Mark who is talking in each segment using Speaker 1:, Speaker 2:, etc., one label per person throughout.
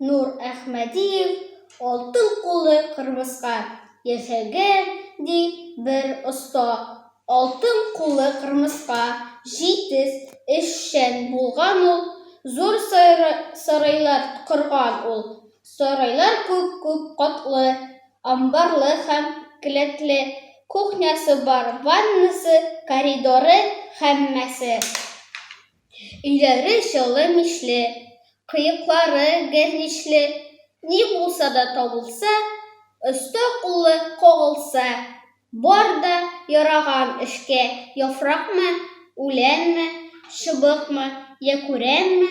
Speaker 1: Нур Әхмәдиев алтын кулы кырмыска яшәгән ди бер оста. Алтын кулы кырмыска җитез эшчән булган ул, зур сарайлар корган ул. Сарайлар күп-күп катлы, амбарлы һәм келәтле, кухнясы бар, ваннасы, коридоры, һәммәсе. Өйләре чаллы мичле, кыеклары гәрничле, ни булса да табылса, оста куллы кагылса, бар да яраган эшкә яфракмы, үләнме, чыбыкмы, йә күрәнме,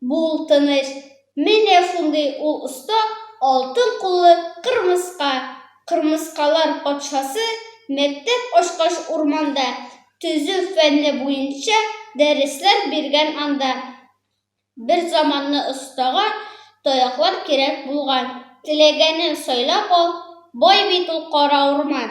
Speaker 1: Бул тыныч. Менә шундый ул оста алтын куллы кырмыска, кырмыскалар патшасы, мәктәп ачкач урманда, төзү фәнне буенча дәресләр биргән анда. Бер заманны остага таяклар кирәк булган, теләгәнен сайлап ал, бай бит ул кара урман.